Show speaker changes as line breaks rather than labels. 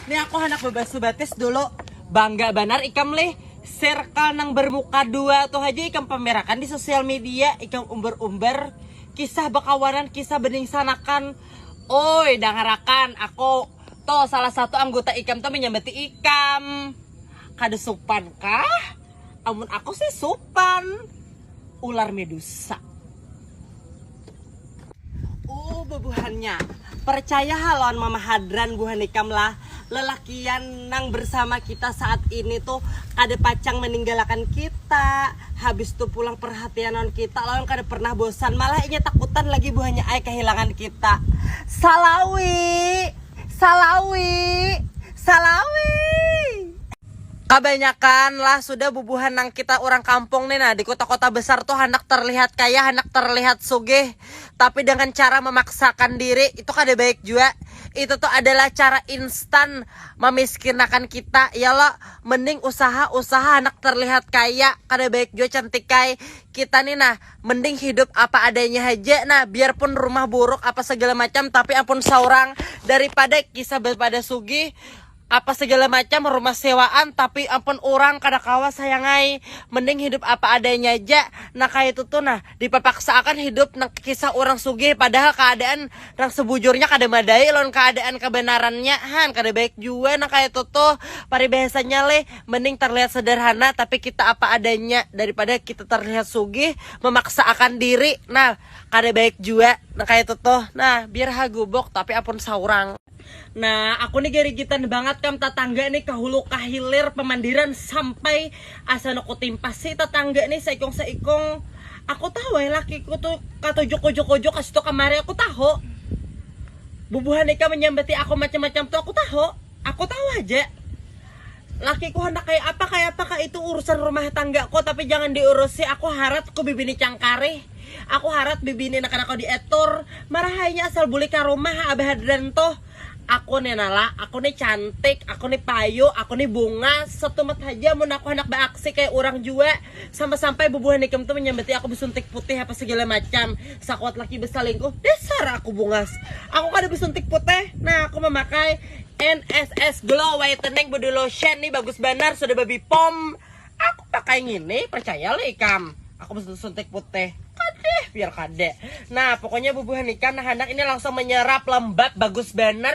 Nih aku anak bebasu batis dulu. Bangga banar ikam lih. Circle nang bermuka dua tuh aja ikam pamerakan di sosial media, ikam umbar-umbar kisah bekawanan, kisah beningsanakan. Oi, dangarakan aku tuh salah satu anggota ikam tuh menyambati ikam. Kada supan kah? Amun aku sih supan ular medusa. Uh bubuhannya, percaya ha lawan mama hadran buhan ikam lah, lelakian nang bersama kita saat ini tuh kada pacang meninggalakan kita, habis tuh pulang perhatian lawan kita lawan kada pernah bosan, malah inya takutan lagi buhannya ai kehilangan kita. Salawi! Salawi! Salawi! Kabanyakan lah sudah bubuhan nang kita urang kampung ni nah di kota-kota besar tu handak terlihat kaya, handak terlihat sugih, tapi dengan cara memaksakan diri itu kada baik jua, itu tu adalah cara instan mamiskinakan kita ya lo, mending usaha-usaha handak terlihat kaya, kada baik jua cantikai, kita ni nah mending hidup apa adanya haja nah biar pun rumah buruk apa segala macam tapi ampun saurang daripada kisah bapada sugih. Apa segala macam rumah sewaan tapi ampun urang kada kawa sayangai, mending hidup apa adanya ja nah kaya itu tuh nah, dipapaksaakan hidup nang kisah urang sugih padahal kaadaan nang sebujurnya kada madai lawan kaadaan kabanarannya han kada baik jua nang kaya itu tuh, paribahasanya lih mending terlihat sederhana tapi kita apa adanya daripada kita terlihat sugih memaksaakan diri nah kada baik jua nang kaya itu tuh nah biar hagubuk tapi ampun saurang. Nah, aku nih garigitan banget kam tatangga nih kahulu kahilir pemandiran sampai asa no kutimpas si tatangga nih saikung saikung aku tahu ai lakiku tuh katuju kuju kuju kasitu kamari aku tahu bubuhan ikam menyambati aku macam macam tuh aku tahu aku tahu haja lakiku handak kaya apa kaya apa kah itu urusan rumah tanggaku tapi jangan diurusi aku harat ku bibini cangkarih. Aku harat bibini naka nako di etor, marah ai nya asal bulik ka rumah ha abah hadran tuh. Aku ni nala, aku ni cantik, aku ni payu, aku ni bunga, setumat haja mun aku handak ba aksi kaya urang jua, sampai sampai bubuhan ikam tu manyambati aku besuntik putih apa segala macam, sakuat laki besalingkuh, dasar aku bungas, aku kada besuntik putih, nah aku mamakai, NSS glow whitening body lotion ni bagus banar sudah ba bipom, Aku pakai ngini, percaya lo ikam. Aku suntik putih. Kadeh, biar kadeh. Nah, pokoknya bubuhan ikam nah handak ini langsung menyerap lembab bagus bener.